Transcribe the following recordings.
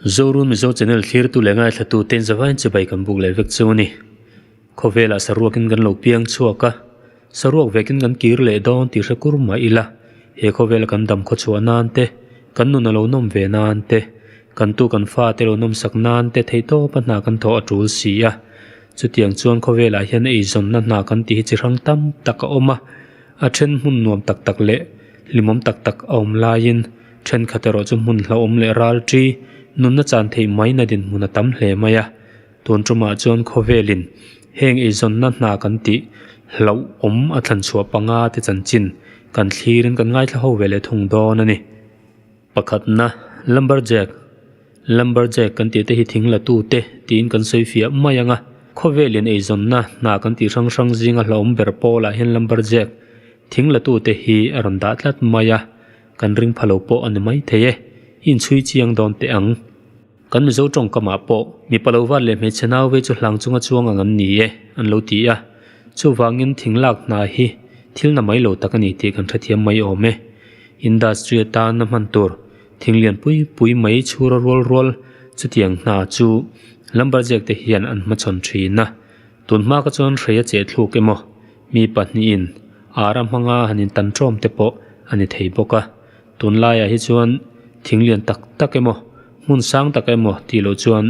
Zoru Mizo Channel thlirtu leh ngaithlatu ten zavaiin chibai kan buk leh vek chu a ni. Khawvelah saruakin kan lo piang chhuak a, saruak vekin kan kir leh dawn tih hre kur mah ila, he khawvela kan dam khaw chhuah nan te, kan nuna lo nawm ve nan te, kan tu kan fate lo nawmsak nan te thei tawpa hna kan thawh a tul si a. Chutiang chuan khawvelah hian eizawnna hna kan tih hi chi hrang tam tak a awm a. A then hmun nuam tak tak leh hlimawm tak tak a awm laiin thenkhat erawh chu hmun hlauhawm leh ralṭi nunna chan theih maina dinhmun a tam hle mai a. Tun ṭumah chuan khawvelin heng eizawnna hna kan tih hlauhawm a thlanchhuah panga te chanchin kan thlirin kan ngaithla ho ve leh thung dawn a ni. Pakhatna, Lumberjack, Lumberjack kan tihte hi thing latu te tiin kan sawi fiah mai anga, khawvelin eizawnna hna kan tih hrang hrang zinga hlauhawm ber pawlah hian Lumberjack thing latute hi a rawn dah tlat mai a, kan ring pha lo pawh a ni maithei e, inchhui chiang dawn teh ang. Kan Mizo tawng kamah pawh mi palo vat leh hmeichhe nau vei chu hlang chunga chuang ang an ni e an lo ti a, chuvangin thing lak hna hi thil na mai lo tak a ni tih kan hrethiam mai awm e. Industry atan a hman tur thing lian pui pui mai chhura rual rual chutiang hna chu Lumberjack te hian an hmachhawn thin a, tun hmaka chuan hrei a cheh thluk emaw mi pahnihin ara hmanga han intan tawm te pawh a ni thei bawk a. Tunlaiah hi chuan thing lian tak tak emaw, hmun sang tak emaw tih loh chuan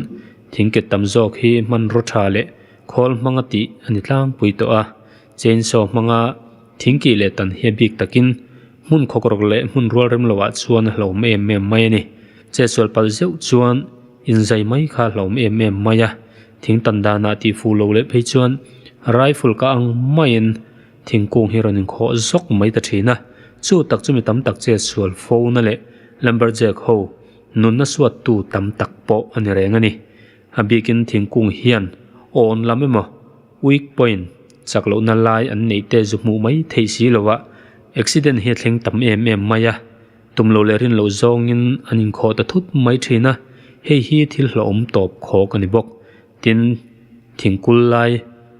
thing ket tam zawk hi hmanraw tha leh khawl hmanga tih a ni tlangpui tawh a. Chainsaw hmanga thing kih leh tan hi a bik takin hmun khawkrawk leh hmun rualrem lohah chuan a hlawm em em mai a ni. Che sual palh zeuh chuan inzai mai kha a hlawm em em mai a. Thing tan danah tih fuh loh leh phei chuan rifle ka ang maiin, Thingkung hi rawn inkhawh zawk mai ta thin a, chu tak chu mi tam tak che sual fo na leh Lumberjack ho nunna suat tu tam tak pawh a ni reng a ni. A bikin thingkung hian awn lam emaw weak point chak loh na lai an neih te zu hmuh mai theih si lo a, accident hi a thleng tam em em mai a, tum lo leh rin loh zawngin an inkhawh ta thut mai thin a, hei hi thil hlauhawm tawp khawk a ni bawk. Tin, thingkul lai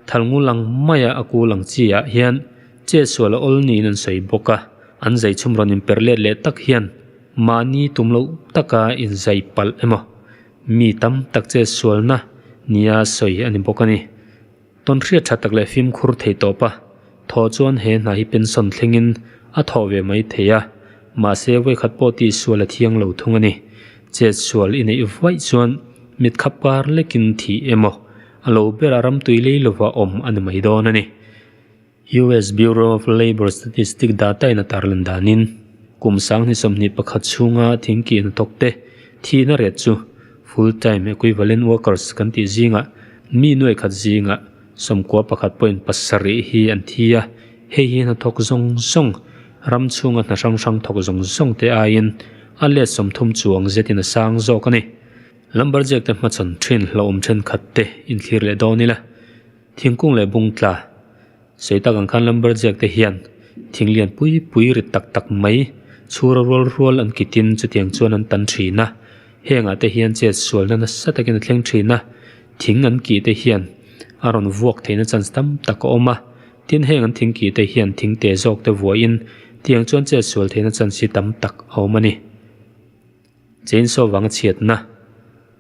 thalnghul ang maia a kul ang chiah hian Chesual a awl niin an sawi bawk a, an zaithum rawn inper let leh tak hian mahni tum loh taka inzaih palh emaw mi tam tak Chesualna nia sawi a ni bawk a ni. Tawn hriat tha tak leh fimkhur thei tawpa thaw chuan he hna hi pension thlengin a thawh ve mai thei a, Mahse, voikhat pawh tihsual a thiang lo thung a ni. Chetsual i neih vuaih chuan mit kha par lekin thih emaw a lo berah ram tui lei lova awm a ni mai dawn a ni. US Bureau of Labour Statistics dataina tar lan danin, kum sanghni sawmhnih pakhat chhunga thingkihna tawkte thihna ret chu full-time equivalent workers kan tih zingah mi nuaih khat zingah, Sawmkua pakhat pawhin pasarih hi an thi a, hei hi hnathawk zawng zawng, ram chhunga hna hrang hrang thawk zawng zawng te aiin a let sawm thum chuang zetin a sang zawk a ni. Lumberjack te hmachhawn thin hlauhawm thenkhat te inthlir leh dawn ila, thingkung leh bung tla sawi tak ang khan Lumberjack te hian thing lian pui pui rit tak tak mai chhura rual rual an kitin chutiang chuan an tan thin a, hengah te hian chet sualna nasa takin a thleng thin a. Thing an kih te hian a rawn vuak theihna chance tam tak a awm a, tin, heng an thing kih te hian thing teh zawk te vuahin tiang chuan chet sual theihna chance hi tam tak a awm a ni. Chainsaw vanga chhiatna,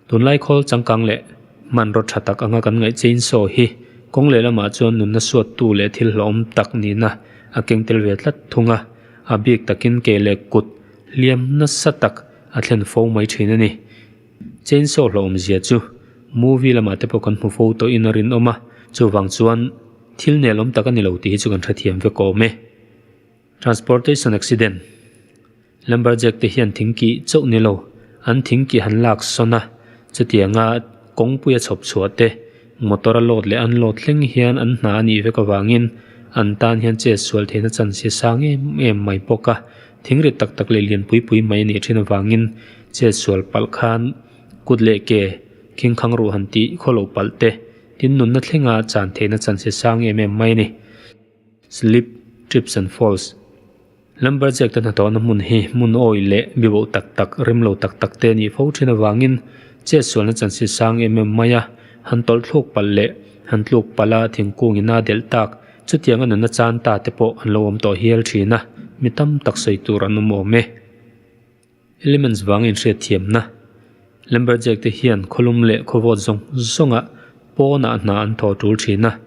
Tunlai khawl changkang leh hmanraw tha tak anga kan ngaih chainsaw hi kawng lehlamah chuan nunna suattu leh thil hlauhawm tak nihna a keng tel ve tlat thung a, a bik takin kei leh kut hliam nasa tak a thlen fo mai thin a ni. Chainsaw hlauhawm zia chu movie lamah te pawh kan hmu fo tawh in a rinawm a chuvang chuan thil nelawm tak a ni lo tih hi chu kan hre thiam vek awm e transportation accident lumberjack te hian thing kih chauh ni lo an thing kih han lak sawn a chutianga kawngpui a chhawp chhuah te motor a load leh unload thleng hian an hna a nih vek avangin an tan hian chet sual theihna chance hi a sang em em mai bawk a. Thing rit tak tak leh lian pui pui mai a nih thin avangin chet sual palh khan kut leh ke khingkhang ruh han tih khaw lo palh te tin nunna thlenga chan theihna chan se sang em em mai a ni. Slip, trips and falls Lumberjack te hnathawhna hmun hi hmun awi leh bibo tak tak, rim lo tak tak te a nih fo thin avangin chet sualna chan se sang em em mai a, han tawlh thluk palh leh han tluk palh a thingkung ina delh tak, Chutiang a nunna chan ta te pawh an lo awm tawh hial thin a, mi tam tak sawi tur an awm awm e. Elements vangin hriatthiamna, Lumberjack te hian khawlum leh khawvawt zawng zawnga pawnah hna an thaw tul thin a,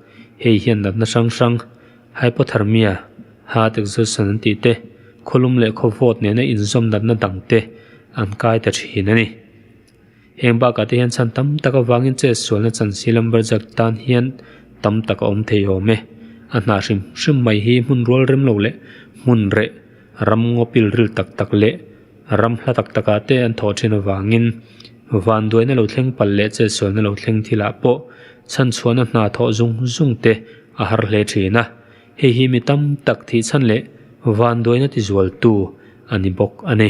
hei hian natna hrang hrang, hypothermia, heart exhaustion an tih te, khawlum leh khawvawt nena inzawm natna dang te an kai ta thin a ni. Heng bakah te hian chhan tam tak avangin chet sualna chansir Lumberjack tan hian tam tak a awm thei awm e. A hnah hrim hrim mai hi hmun rual rem lo leh hmun reh ram ngawpil ril tak tak leh ram hla tak tak ah te an thawh thin avangin van duaina lo thleng pal leh chet sualna lo thleng thil ah pawh chhan chhuahna hna thawh zung zung te a har hle thin a. Hei hi mi tam tak thih chhan leh van duaina tizual tu a ni bawk a ni.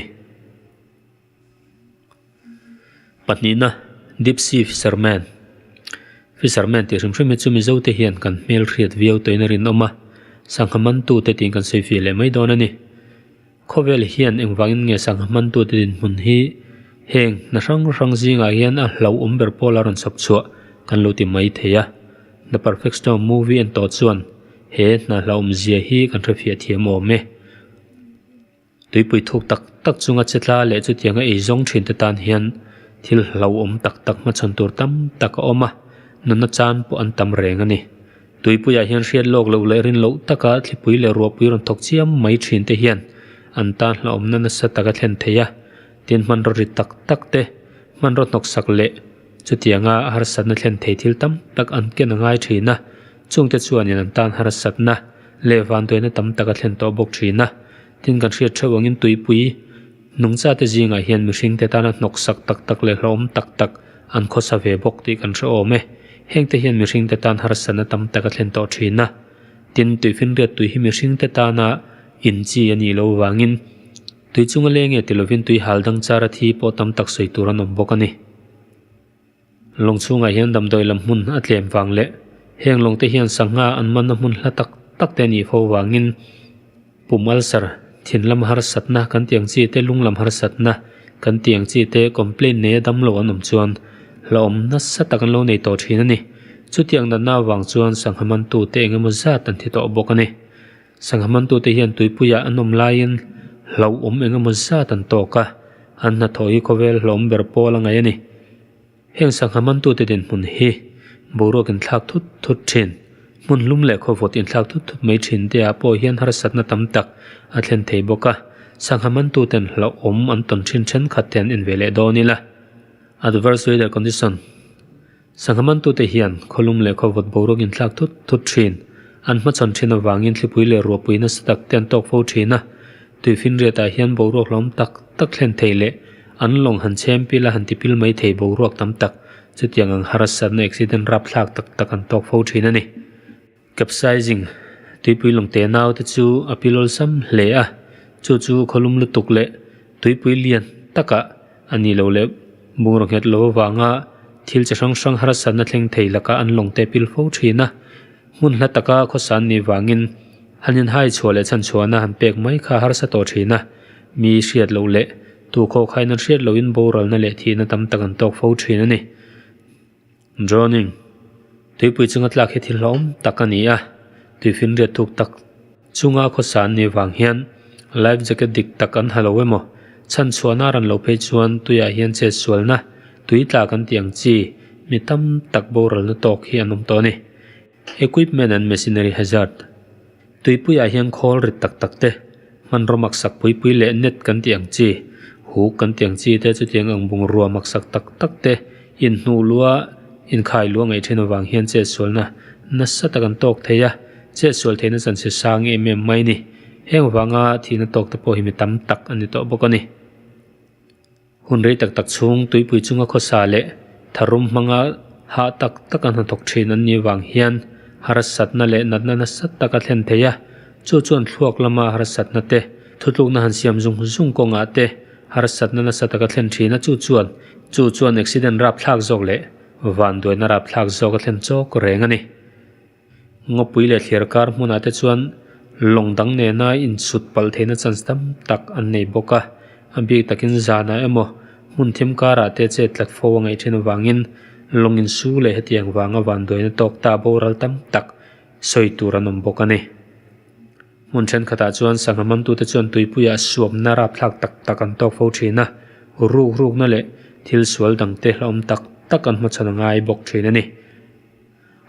Pahnihna, Deep Sea Fishermen, Fishermen tih hrim hrim hi chu Mizo te hian kan hmel hriat viau tawhin a rinawm a, sangha hmantu te tiin kan sawi fih leh mai dawn a ni. Khawvel hian engvangin nge sangha hmantu te dinhmun hi heng hna hrang hrang zingah hian a hlauhawm ber pawl a rawn chhawp chhuah kan lo ti mai thei a. The Perfect Storm movie en tawh chuan he hna hlauhawmzia hi kan hre fiah thiam awm e. Tuipui thuk tak tak chunga che tla leh chutianga ei zawng thin te tan hian thil hlauhawm tak tak hma chhawn tur tam tak a awm a, nuna chan pawh an tam reng a ni. Tuipuiah hian hriat lawk loh leh rin loh taka thlipui leh ruahpui rawn thawk chiam mai thin te hian an tan hlauhawmna nasa tak a thlen thei a, tin hmanraw ri tak tak te, hmanraw hnawksak leh. Chutianga harsatna thlen thei thil tam tak an ken a ngai thin a, chungte chuanin an tan harsatna leh vanduaina tam tak a thlen tawh bawk thin a. Tin, kan hriat theuh angin tuipui nungchate zingah hian mihringte tana hnawksak tak tak leh hlauhawm tak tak an khawsa ve bawk tih kan hre awm e. Hengte hian mihringte tan harsatna tam tak a thlen tawh thin a. Tin, tuihfinriat tui hi mihringte tana inchi a nih loh vangin Tui chunga lei nge ti lovin tui hal dang chara thi pawh tam tak sawi tur an awm bawk a ni. Lawng chhungah hian damdawi lam hmun a tlem vang leh heng lawng te hian sangha an man a hmun hla tak tak te a nih fo vangin pum ulcer, thinlam harsatna kan tih ang chi te lunglam harsatna kan tih ang chi te complaint nei a damlo an awm chuan hlauhawm nasa tak an lo nei tawh thin a ni. Chutiang natna vang chuan sangha mantu te eng emaw zat an thi tawh bawk a ni. Sangha hmantute hian tuipuiah an awm laiin hlauhawm engemaw zat an tawk a, an hnathawh hi khawvel hlawhawm ber pawl a ngaih a ni. Heng sangha hmantute dinhmun hi boruak inthlak thut thut thin, hmun hlum leh khawvawt inthlak thut thut mai thin te ah pawh hian harsatna tam tak a thlen thei bawk a, sangha hmantuten hlauhawm an tawn thin thenkhat te an en ve leh dawn ila, adverse weather condition, Sangha mantute hian khawlum leh khawvawt boruak inthlak thut thut thin. An hmachhawn thin avangin thlipui leh ruahpui nasa tak te an tawk fo thin a. Tui finriatah hian boruak hlawm tak tak thlen thei leh an lawng han chhem pil a han ti pil mai thei boruak tam tak chutiang ang harasatna accident rapthlak tak tak an tawk fo thin a ni. Capsizing, Tuipui lungte nau te chu a pi lawlsam hle a, chu chu khawlum lutuk leh tuipui lian taka a nih loh leh bungraw nghet loh avanga thil chi hrang hrang harasatna thleng thei laka an lawngte a pil fo thin a. Hmun hla taka khawsan nih vangin han inhai chhuah leh chhan chhuahna han pek mai kha a harsa tawh thin a, mi hriat loh leh tu khawkhaihna hriat lohin boralna leh thihna tam tak an tawk fo thin a ni. Drowning, Tuipui chunga tlak hi thil hlawm tak a ni a, tuifinriat thuk tak chunga khawsa an nei vang hian life jacket dik tak an ha lo emaw, chhanchhuahna a rawn lo phei chuan tuiah hian chetsualna, tui tlak an tih ang chi mi tam tak boral na tawk hi an awm tawh a ni. Equipment and Machinery Hazard, Tuipuiah hian khawl rit tak tak te, hmanraw maksak pui pui leh net kan tih ang chi, huk kan tih ang chi te chutiang ang bungrua maksak tak tak te inhnuh lua, inkhai lua ngaih thin avang hian chetsualna nasa tak an tawk thei a. Chetsual theihna chan se sa ang em em mai ni. Heng vanga thihna tawk te pawh hi mi tam tak a ni tawh bawk a ni. Hun rei tak tak chhung tuipui chunga khawsa leh tharum hmanga hah tak tak a hnathawk thin an nih vang hian harasatna leh natna nasat tak a thlen thei a, chu chuan thluak lama harasatna te, thutlukna han siam zung zung kawngah te harasatna nasa tak a thlen thin a, chu chuan chu chuan accident rapthlak zawk leh vanduaina rapthlak zawk a thlen chawk reng a ni. Ngawpui leh thliar kar hmunah te chuan lawng dang nena insut palh theihna chance tam tak an nei bawk a, a bik takin zanah emaw hmun thim karah te chet tlat fo a ngaih thin avangin lawng insu leh hetiang vanga vanduaina tawk ta boral tam tak sawi tur an awm bawk a ni. Hmun thenkhatah chuan sangha mamtute chuan tuipuiah suamna rapthlak tak tak an tawk fo thin a, ruk rukna leh thil sual dangte hlauhawm tak tak an hmachhan a ngai bawk thin a ni.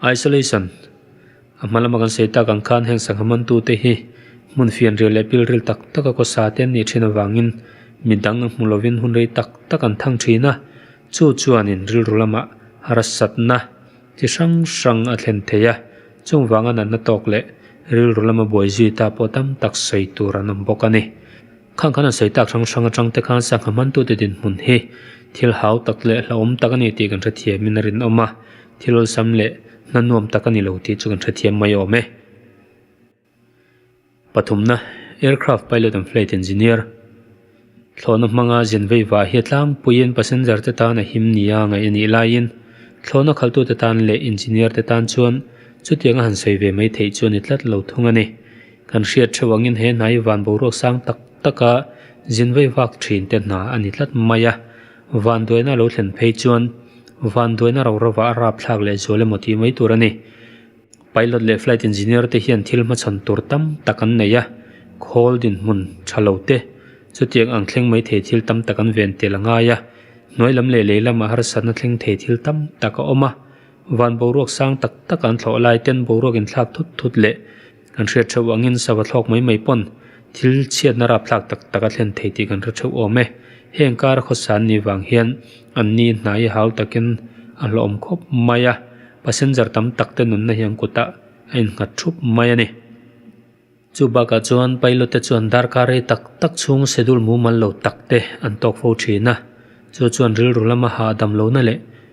Isolation, A hma lama kan sawi tak ang khan heng sangha mantute hi hmun fianrial leh pilril tak taka kawsa te an nih thin avangin mi dang a hmu lovin hun rei tak tak an thang thin a, chu chuanin rilru lamah harsatna chi hrang hrang a thlen thei a, chungvanga natna tawk leh rilru lama buai zui ta pawh tam tak sawi tur an awm bawk a ni. Khang khan a sawitak hrang hrang atang te khan sangha hmantute dinhmun hi thil hau tak leh hlauhawm tak a ni tih kan hrethiamin a rinawm a, thil awlsam leh hnanuam tak a ni lo tih chu kan hrethiam mai awm e. Pathumna, Aircraft Pilot and Flight Engineer, Thlawhna hmanga zian veivah hi a tlangpuiin passenger te tan a him nia a ngaih a nih laiin thlawhna khaltute tan leh engineer te tan chuan chutianga han sawi ve mai theih chu a ni tlat lo thung a ni. Kan hriat theuh angin he hnai van boruak sang tak taka zinvaivak thinte hna a ni tlat mai a. Vanduaina a lo thlen phei chuan vanduaina rorova a rapthlak leh zual emaw tih mai tur a ni. Pilot leh flight engineer te hian thil hmachhawn tur tam tak an nei a, khawl dinhmun tha lo te, chutiang ang thleng mai thei thil tam tak an ven tel a ngai a. Hnuai lam leh lei lamah harsatna thleng thei thil tam tak a awm a. Van boruak sang tak taka an thlawh lai ten boruak inthlak thut thut leh Kan hriat theuh angin sava thlawk mai mai pawn thil chhiatna rapthlak tak tak a thlen thei tih kan hre theuh awm e. Heng kara khawsan ni vang hian an ni hnai hau takin a hlawhawm khawp mai a, passenger tam tak te nunna hi an kutah a innghat thup mai a ni. Chu bakah chuan pilot te chuan darkar rei tak tak chhung schedule mumal lo tak te an tawk fo thin a, chu chuan rilru lama ha a dam lohna leh.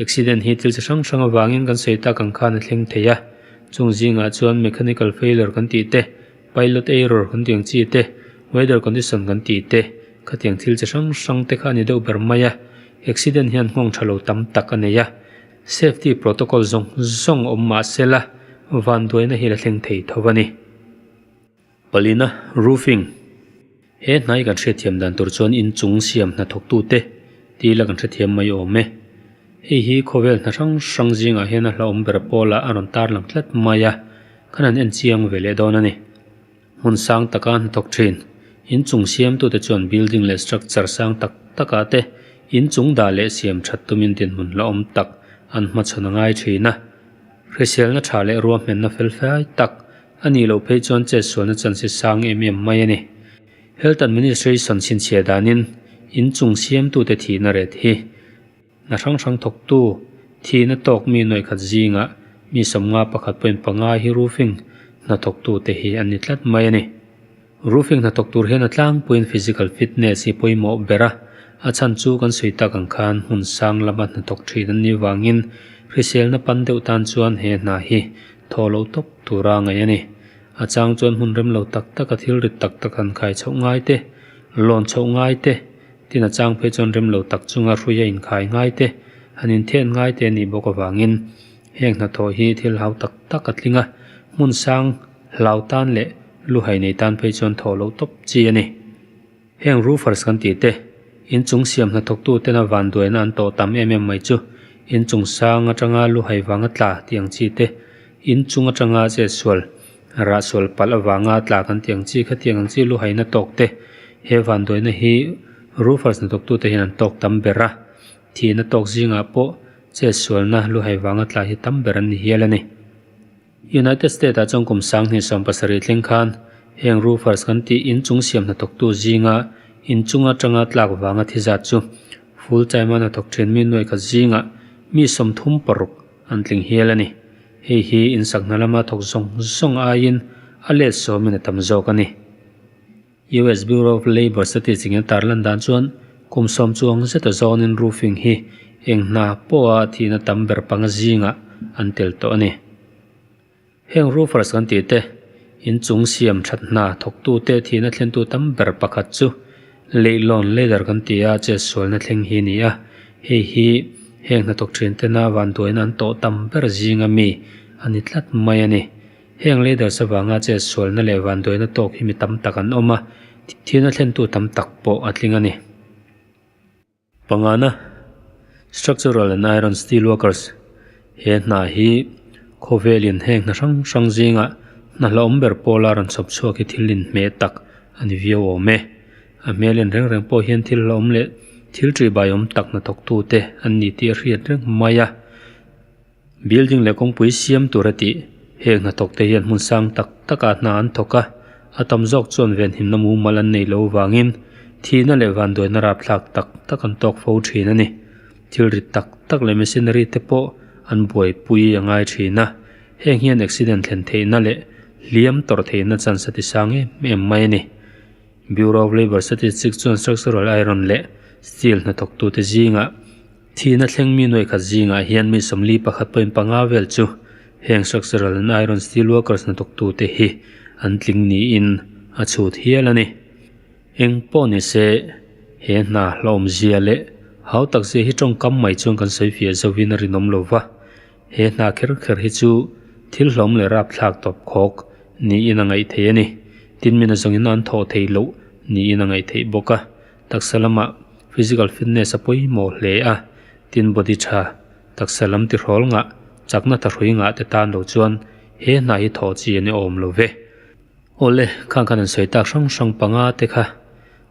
Accident hi thil chi hrang hrang avangin kan sawi tak ang khan a thleng thei a, chung zingah chuan mechanical failure kan tih te, pilot error kan tih ang chi te, weather condition kan tih te, khatiang thil chi hrang hrang te kha a ni deuh ber mai a, accident hian nghawng tha lo tam tak a nei a, safety protocol zawng zawng awm mah se la, vanduaina hi a la thleng thei tho a ni. Palina, Roofing, He hnai kan hrethiam dan tur chuan inchung siam hnathawktu te ti ila kan hrethiam mai awm e. Hei hi khawvel hna hrang hrang zingah hian a hlauhawm ber pawlah a rawn tarlang tlat mai a, khan an enchiang ve leh dawn a ni. Hmun sang taka hnathawk thin. Inchung siamtute chuan building leh structure sang tak takah te inchung dah leh siam that tumin dinhmun hlauhawm tak an hmachhawn a ngai thin a. Hriselna tha leh ruahmenna fel fai tak. A nih loh phei chuan chetsualna chanse sang em em mai a ni. Health Administration chhinchhiah danin inchung siamtute thihna ret hi hna hrang hrang thawktu thihna tawk mi nawihkhat zingah mi sawmnga pakhat pawhin panga hi roofing hna thawktute hi an ni tlat mai a ni. Roofing hnathawk tur hian a tlangpuiin physical fitness hi pawimawh ber a, a chhan chu kan sawi tak ang khan hmun sang lama hnathawk thin an nih vangin hriselna pan deuh tan chuan he hna hi thaw lo tawp tura ngaih a ni. A chang chuan hmun rem lo tak taka thil rit tak tak han khai chhoh ngai te, lawn chhoh ngai te, tin a chang phei chuan rem lo tak chunga hruia inkhai ngai te, han inthen ngai te a nih bawk avangin heng hnathawh hi thil hau tak tak a tling a, hmun sang, Hlau tan leh lu hai nei tan phei chuan thaw lo tawp chi a ni. Heng roofers kan tih te, inchung siam hnathawk tu tena van duaina an tawh tam em em mai chu, inchung sang atanga lu hai vanga tla tih ang chi te, inchung atanga zet sual, rah sual palh avanga tla kan tih ang chi kha tiang ang chi lu haina tawk te, he van duaina hi roofers hnathawk tu te hian an tawk tam ber a, thihna tawk zingah pawh zet sualna lu hai vanga tla hi tam ber an ni hial a ni. United States ah chuan kum sang hnih sawm pasarih thleng khan heng roofers kan tih in chung siam hna tawk tu zinga in chung atanga tlak vanga thi zat chu full time a hna thawk thin mi nuaih khat zinga mi sawm thum paruk an tling hial a ni. Hei hi in sak hna lama thawk zawng zawng aiin a let sawm in a tam zawk a ni. US Bureau of Labour Statistic-in a tarlan dan chuan kum sawm chuang zeta zawngin roofing hi eng hna pawha thihna tam ber panga zinga an tel tawh a ni. Heng roofers kan tih te, inchung siam that hna thawktu te thihna thlentu tam ber pakhat chu leihlawn ladder kan ti a chet sualna thleng hi a ni a, hei hi heng hnathawk thintena vanduaina an tawh tam ber zinga mi a ni tlat mai a ni. Heng leaders avanga che sualna leh vanduaina tawk hi mi tam tak an awm a, thil a thlentu tam tak pawh a tling a ni. Pangana, Structural and Iron Steel Workers, he hna hi khawvelin heng hna hrang hrang zinga hna hlauhawm ber pawla rawn chhawp chhuak hi thil inhmeh tak a ni viau awm e. A hmelin reng reng pawh hian thil hlauhawm leh thil ṭih baiawm tak hnathawktute an ni tih a hriat reng mai a. Building leh kawngpui siam tura tih heng hna thawkte hian hmun sang tak taka hna an thawk a, a tam zawk chuan venhimna mumal an nei lo vangin thihna leh vanduaina rapthlak tak tak an tawk fo thin a ni. Thil rit tak tak leh machinery te pawh an buaipui a ngai thin a, heng hian accident thlen theihna leh hliam tawrh theihna chance ti sang em em mai a ni. Bureau of Labour Statistics chuan structural iron leh steel hna thawktute zingah Thihna thleng mi nuaihkhat zingah hian mi sawmli pakhat pawhin panga vel chu heng structural and iron steel workers hnathawk tu te hi an tling niin a chhut hial a ni. Eng pawh ni se, he hna hlawhawmzia leh hau tak zia hi tawngkam mai chuan kan sawi fiah zovin a rinawm lo va, he hna kher kher hi chu thil hlawm leh rapthlak tawp khawk niin a ngaih theih a ni. Tin mina zawngin a an thawh thei loh niin a ngaih theih bawk a, Taksa lama physical fitness a pawimawh hle a, tin body tha, taksa lam tihrawl ngah, chakna tha hrui ngah te tan lo chuan he hna hi thawh chi an ni awm lo ve. Awle, khang khan an sawi tak hrang hrang panga te kha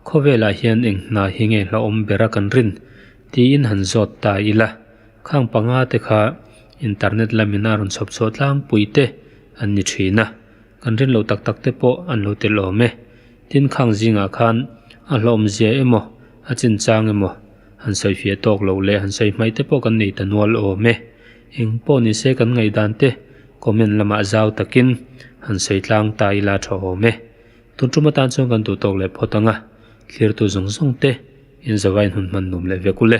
khawvelah hian eng hna hi nge hla awm ber a kan rin tiin han zawt ta ila, khang panga te kha internet lamina rawn chhawp chhuah tlangpui te an ni thin a. Kan rinlo tak tak te pawh an lo tel awm e. Tin, khang zingah khan a hlawmzia emaw, a chinchang emaw han sawi fiah tawk lo leh han sawi hmaih te pawh kan nei ta nual awm e. Eng pawh ni se kan ngaidan te comment lamah zau takin han sawi tlang ta ila tha awm e. Tuntum atan chuan kan duh tawk leh phawt ang a, thlirtu zawng zawng te inzawaiin hun hman nuam leh vek ul e.